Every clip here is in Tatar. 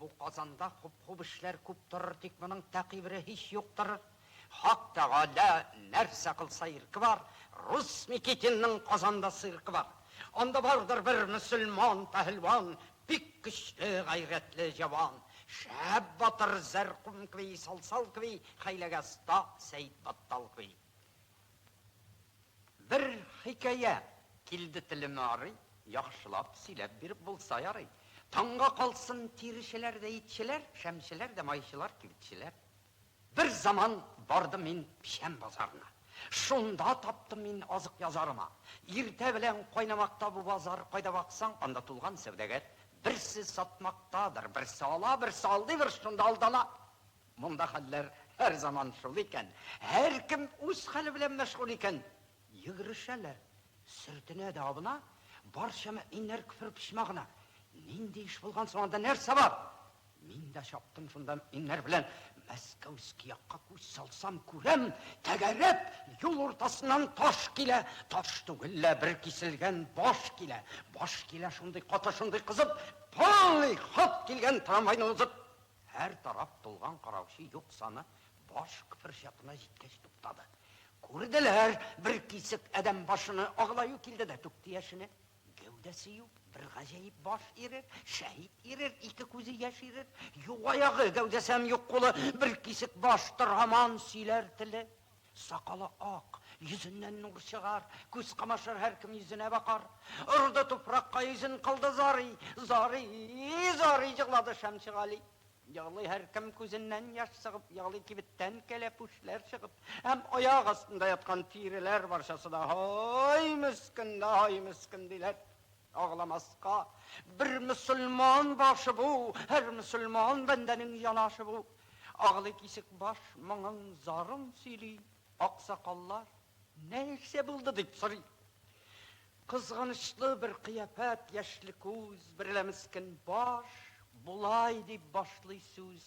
Бу Казанда хуп-хуп эшләр күп торыр, тик моның тәкыйбре һич юктыр. Хак Тәгалә нәрсә кылса ирке бар, рус Никитинның Казанда циркы бар. Анда бардыр бер мөселман пәһелван, бик көчле, гайрәтле җәван. Шәп батыр, Зәркум кеби, Салсал кеби, Хәйләгәз Та, Сәетбаттал кеби. Бер хикәя килде телемә арый, Яхшылап сөйләп биреп булса ярый. Таңга калсын тиречеләр дә итчеләр, Шәмчеләр дә майчылар, кибетчеләр. Бер заман бардым мин печән базарына, Шунда таптым мин азык язарыма. Иртә белән кайнамакта бу базар, Кайда баксаң, анда тулган сәүдәгәр. Берсе сатмактадыр, берсе ала, Берсе алдыйдыр, шунда алдана. Монда хәлләр һәр заман шул икән, һәркем үз хәле белән мәшгуль икән, йөгерешәләр, сөртенә дә абына, барча мөэминнәр көфер почмагына. Нинди эш булган соң анда, нәрсә бар? Мин дә чаптым шунда мөэминнәр белән, Мәскәүски якка күз салсам, күрәм, тәгәрәп, юл уртасыннан таш килә, таш түгел лә, бер киселгән баш килә, баш килә шундый каты, шундый кызып, полный ход килгән трамвайны узып, Һәр тараф тулган караучы юк саны баш кпер чатына җиткәч туктады. Күрделәр, бер кисек адәм башыны аглаю килде дә түкте яшене. Гәүдәсе юк, бер гаҗәеп баш ирер, шәһит ирер, ике күзе яшь ирер, юк аягы, гәүдәсе һәм юк кулы, бер кисек баш, тор һаман сөйләр теле. Сакалы ак, йөзеннән нур чыгар, Күз камашыр, һәркем йөзенә бакар. Орды туфракка йөзен, кылды зарый, Зарый, зарый җырлады Шәмши Гали. Егълый һәркем, күзеннән яшь сыгып, Егълый кибеттән кәләпүшләр чыгып. Һәм аяк астында яткан тиреләр Барчасы да, Һай, мескен, һай, мескен! диләр. Агламаска бер мөселман башы бу, Һәр мөселман бәндәнең янашы бу. Аглый кисек баш моңын, зарын сөйли, Аксакаллар нәрсә булды дип сорый. Кызганычлы бер кыяфәт, яшьле күз Берлә мескен баш болай дип башлый сүз.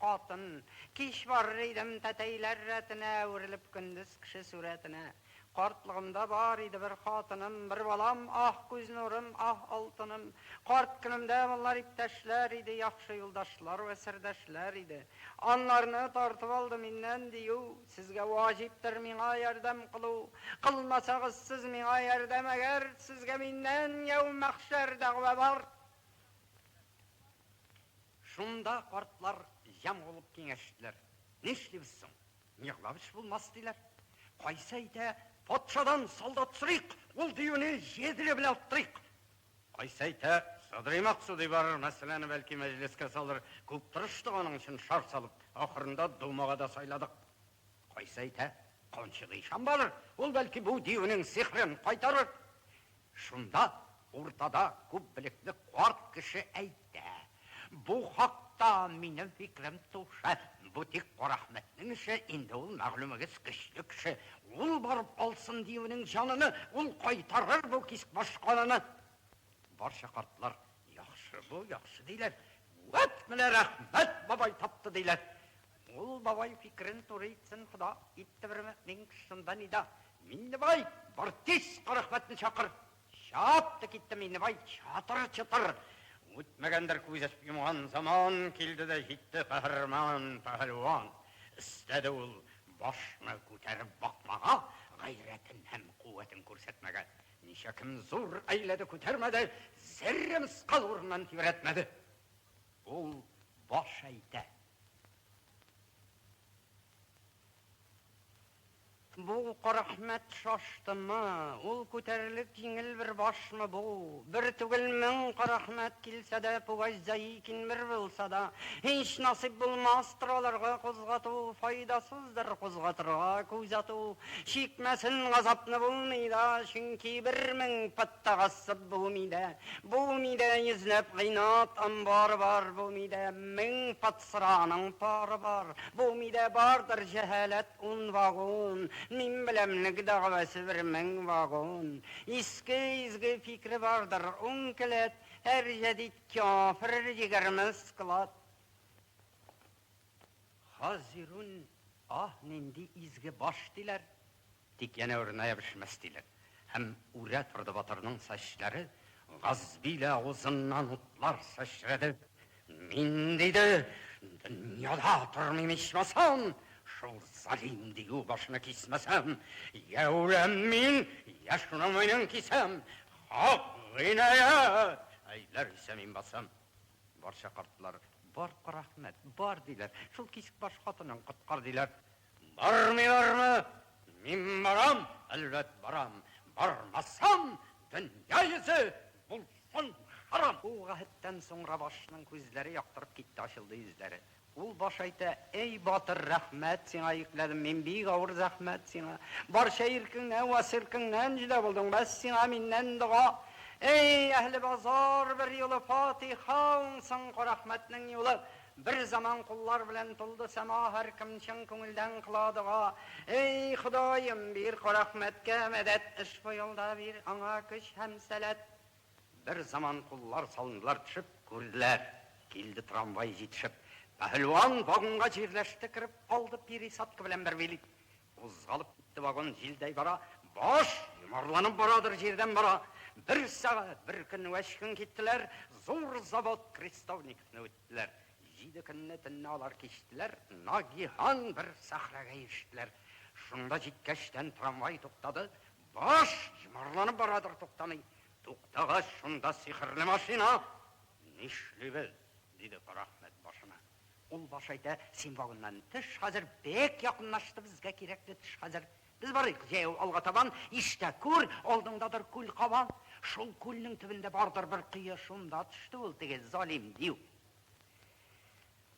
Катын. Кич барыр идем тәтәйләр рәтенә, Әверелеп көндез кеше сурәтенә. Картлыгымда бар иде бер хатыным, Бер балам, аһ, күз нурым, аһ, алтыным. Карт көнемдә болар иптәшләр иде, Яхшы юлдашлар вә сердәшләр иде. Анларны тартып алды миннән дию, Сезгә ваҗиптер миңа ярдәм кылу. Кылмасагыз сез миңа ярдәм әгәр, Сезгә миннән яумәхшәр дәгъвә бар. Шунда картлар җәм булып киңәштеләр. Нишлибез соң? Миһлавич булмас, диләр. Кайсы әйтә, патшадан солдат сорыйк, ул диюне җедре белән оттырыйк. Кайсы әйтә, Садрый Максудый барыр, мәсьәләне бәлки мәҗлескә салыр. Күп тырыштык аның өчен шар салып, ахырында думага да сайладык. Кайсы әйтә, Канчыгый ишан барыр, ул бәлки бу диюнең сихрен кайтарыр. Шунда уртада күбелекле карт кеше әйтә, Бу хакта минем фикерем туша, бу тик Карәхмәтнең эше, инде ул мәгълүмегез көчле кеше, ул барып алсын диюнең җаныны, ул кайтарыр бу кисбаш каныны. Барча картлар, Яхшы бу, яхшы, диләр. Вәт менә Рәхмәт бабай тапты, диләр. Ул бабай фикерен туры итсен хода, итте бер мөэмин кеше шунда нида, Миннебай, бар тиз Карәхмәтне чакыр! Чап ты китте Миннебай, чатыр-чотыр! Үтмәгәндер күз ачып йомган заман, килде дә җитте каһарман пәһәлван. Өстәде ул башны күтәреп бакмага, гайрәтен һәм куәтен күрсәтмәгә. Ничә кем зур әйләде, күтәрмәде, зерре мскал урыннан тибрәтмәде. Ул баш әйтә, Бу Карахмәт шаштымы, ул күтәрелек җиңел бер башмы бу? Бер түгел, мең Карахмәт килсә дә, Пугач Заикин бер булса да, һич насыйп булмастыр аларга кузгату, файдасыздыр кузгатырга, күз ату. Чикмәсен, газапны булмый да, чөнки бер мең Тагасып булмый да, булмый да, Йөзләп гыйнат амбары бар, Булмый да, мең патсраның пары бар, Булмый да, бардыр җәһаләт ун вагон, Мин беләмлек дәгъвасы бер мең вагон. Иске изге фикре бардыр ун келәт, Һәр җәдит кяфер егерме склад. Хазирун, аһ, нинди изге баш, диләр. Тик янә үрнәя бешмәс диләр. Һәм үрә торды батырның сәчләре, Газбилә авызыннан утлар сәчрәде. Мин, диде, дөньяда тормыйм ичмасам, шул залим дию башны кисмәсәм! Йә үләм мин, йә шуның муенын кисәм! Хак гыйнаять! Әйләр исә мин басам! Барча картлар, Бар, рәхмәт, бар, диләр, Шул кисекбаш хатынын коткар, диләр. Бармыйлармы? Мин барам, әлбәт, барам. Бармасам, дөнья йөзе булсын харам! Бу гаһәттән соң Рабашның күзләре яктырып китте, ачылды йөзләре. Ул баш әйтә, Әй, батыр, рәхмәт сиңа йөкләдем мин бик авыр зәхмәт сиңа. Барча иркеңнән вә серкеңнән җөдә булдың, бәс сиңа миннән дога. Әй, әһле базар, берьюлы фатиха уңсын Карәхмәтнең юлы! Бер заман куллар белән тулды сәма Һәркем чын күңелдән кыла дога. Эй, Ходаем, бир Карәхмәткә мәдәт, Ышбу юлда бир аңа көч һәм сәләт. Бер заман куллар салындылар төшеп, Күрделәр, килде трамвай җитешеп. Пәһелван вагонга җирләште кереп, Алды Пири Садкы белән бер билет. Кузгалып китте вагон җилдәй бара, Баш! йомарланып барадыр җирдән бара. Бер сәгать, бер көн вә өч көн киттеләр, Зур завод Крестовниковны үттеләр. Җиде көнне, төнне алар кичтеләр, Нагиһан бер сәхрәгә ирештеләр. Шунда җиткәчтән трамвай туктады, Баш! йомарланып барадыр, туктамый. Туктагач, шунда сихерле машина, Нишлибез? Диде Карахмәт башына. Ул баш әйтә, Син вагоннан төш хәзер, бек якынлашты безгә кирәкле төш хәзер. Без барыйк җәяү алга табан, иштә күр, алдыңдадыр күл кабан. Шул күлнең төбендә бардыр бер кое, шунда төште ул теге залим дию.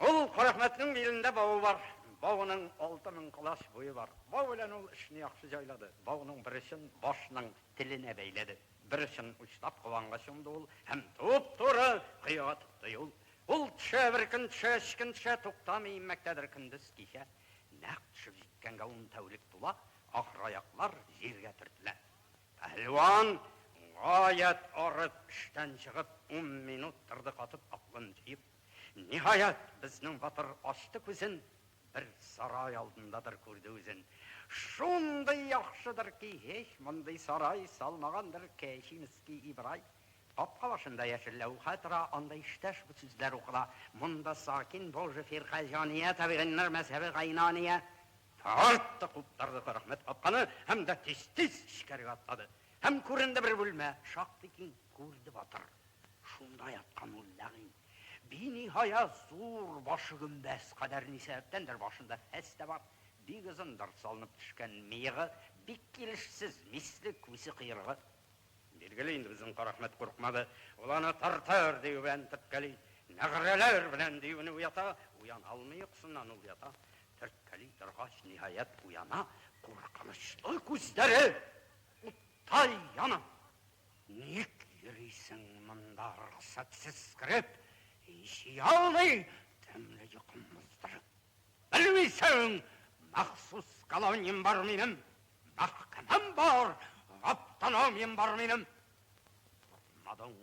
Ул Карахмәтнең билендә бавы бар, бавының алты мең колач буе бар. Бау белән ул эшне яхшы җайлады, бауның бер очын башның теленә бәйләде. Бер очын учлап кабанга чумды ул һәм туп-туры коега тотты юл. Ул төшә, бер көн төшә, өч көн төшә, туктамый, иммәктәдер көндез, кичә. Нәкъ төшеп җиткәнгә ун тәүлек тула, ахыр аяклар җиргә төртелә. Пәһлеван, гаять арып, эштән чыгып, ун минут торды катып, аклын җыеп. Ниһаять, безнең батыр ачты күзен. Бер сарай алдындадыр күрде үзен. Шундый яхшыдыр ки, һич мондый сарай салмагандыр Кәчинский Ибрай. Капка башында яшел ләүхә тора, анда иштә шул сүзләр укыла, Монда сакин бул же фиркә җания, табигиннар мәзһәбе гайнания. Тартты, куптарды Карәхмәт капканы һәм дә тиз-тиз эчкәрегә атлады. Һәм күренде бер бүлмә, шактый киң, күрде батыр. Шунда яткан ул ләгыйн. Биниһая зур башы гөмбәз кадәр ни сәбәптәндер башында фәс тә бар, бик озындыр, салынып төшкән мыегы, бик килешсез, мисле, күсе кыергы. Билгеле инде, безнең Карәхмәт курыкмады, ул аны тартыр дию белән тепкәли, нәгърәләр белән диюне уята, уяна алмый йокысыннан ул ята. Төрткәли торгач, ниһаять уяна, куркынычлы күзләре уттай яна. Ник йөрисең монда рөхсәтсез кереп, иши алмый, тәмле йокым мыздырып. Белмисең, махсус колониям бар минем, мәхкәмәм бар, автономиям бар минем. Тормадың,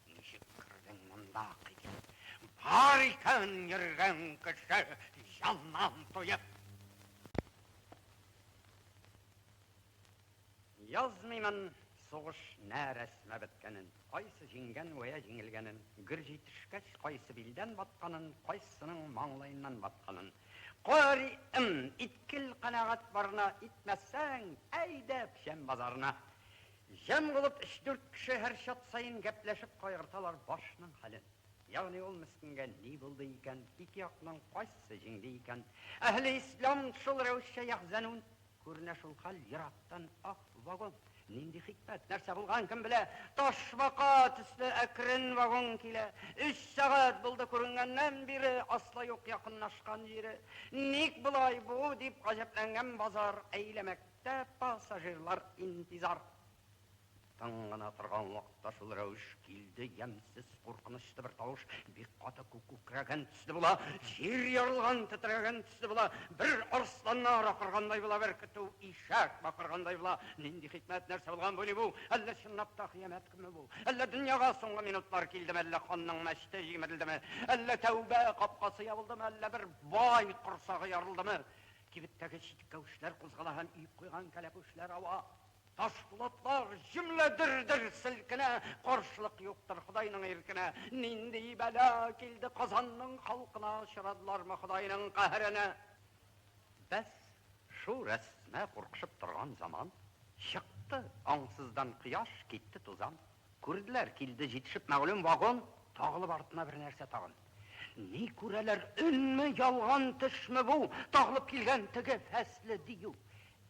Ничек кердең монда, китеп? Бар икән йөргән кеше, җаннан туеп. Язмыймын сугыш нә рәсмә беткәнен, кайсы җиңгән вә я җиңелгәнен, гөр җитешкәч, кайсы билдән батканын, кайсының маңлаеннан батканын. Кари ым, иткел канәгать барына, итмәсәң, әйдә печән базарына. Җан булып өч-дүрт кеше һәр чат саен гәпләшеп кайгырталар башның хәлен. Ягъни ул мескенгә ни булды икән, ике якның кайсысы җиңде икән? Әһле ислам шул рәвешчә яхзәнун. Күренә шул хәл, ерактан, Аһ, вагон! Нинди хикмәт, нәрсә булган, кем белә? Ташбака төсле әкрен вагон килә. Өч сәгать булды күренгәннән бире, асла юк якынлашкан җире. Ник болай бу? дип гаҗәпләнгән базар әйләмәк. Тә пассажирлар интизар тын гына торган вакытта шул рәвеш килде, ямьсез, куркынычлы бер тавыш, бик каты күк күкрәгән төсле була, җир ярылган, тетрәгән төсле була, бер арсланнар акыргандай була, бер көтү ишәк бакыргандай була. Нинди хикмәт, нәрсә булган бу, ни бу? Әллә чынлап та кыямәт көнме бу? Әллә дөньяга соңгы минутлар килдеме, әллә ханның мәчете җимерелдеме, әллә тәүбә капкасы ябылдымы, әллә бер бай корсагы ярылдымы? Кибеттәге читкәүшләр кузгала һәм өеп куйган кәләпүшләр ава. Ташпулатлар җөмлә дер-дер селкенә. Каршылык юктыр Ходайның иркенә. Нинди бәла килде Казанның халкына, очрадылармы Ходайның каһәренә? Бәс, шул рәсмә куркышып торган заман, Чыкты аңсыздан кояш, китте тузан. Күрделәр, килде җитешеп мәгълүм вагон, Тагылып артына бер нәрсә тагын. Ни күрәләр, өнме, ялган төшме бу, тагылып килгән теге фәсле дию?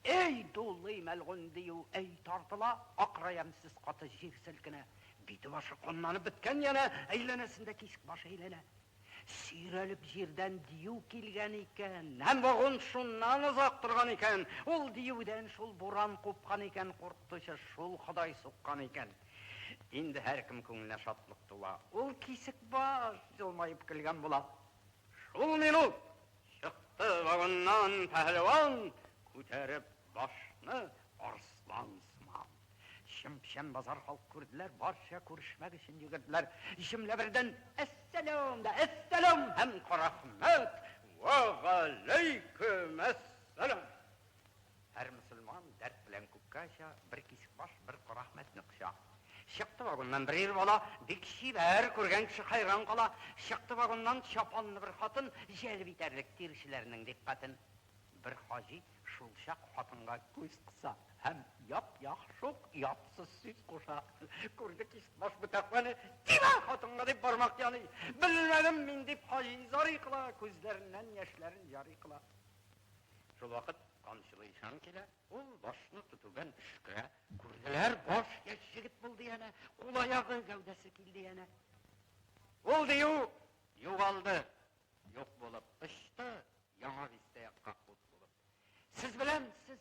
Әй, дулый мәлгунь дию, әй, тартыла, акыра ямьсез каты җир селкенә. Бите-башы каннанып беткән янә, әйләнәсендә тишек баш әйләнә. Сөйрәлеп җирдән дию килгән икән. Һәм вагон шуннан озак торган икән. Ул диюдән шул буран купкан икән, куркытучы шул Ходай суккан икән. Инде һәркем күңеленә шатлык тула. Ул Кисекбаш елмаеп көлгән була. Шул минут чыкты вагоннан пәһлеван, күтәреп башны арслан сыман. Чын-печән базар халкы күрделәр, барча күрешмәк өчен йөгерделәр. Җөмлә бердән, Әссәләм дә, әссәләм һәм карахмәт, вәгаләйкүмәссәләм! Һәр мөселман дәрт белән күккә оча, Бер кисек баш, бер кара Әхмәтне коча. Чыкты вагоннан бер ир бала, Бик чибәр, күргән кеше хәйран кала. Чыкты вагоннан чапанлы бер хатын, Җәлеп итәрлек тирчеләрнең дикъкатен. Бер хаҗи шулчак хатынга күз кыса Һәм яп-як шук ятсыз сүз куша. Күрде кисек баш бу тәкъваны, Тимә хатынга! дип бармак яный. Белмәдем мин, дип хаҗи зарый кыла, Күзләреннән яшьләрен җарый кыла. Шулвакыт Канчылы ишан килә, ул башны тотудан төшкә, күрделәр, баш яшь җегет булды янә, кул аягы, гәүдәсе килде янә. Ул дию югалды, юк булып, очты, яңа бистә якка ут булып. Сез белән сез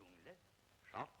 Күңеле шат.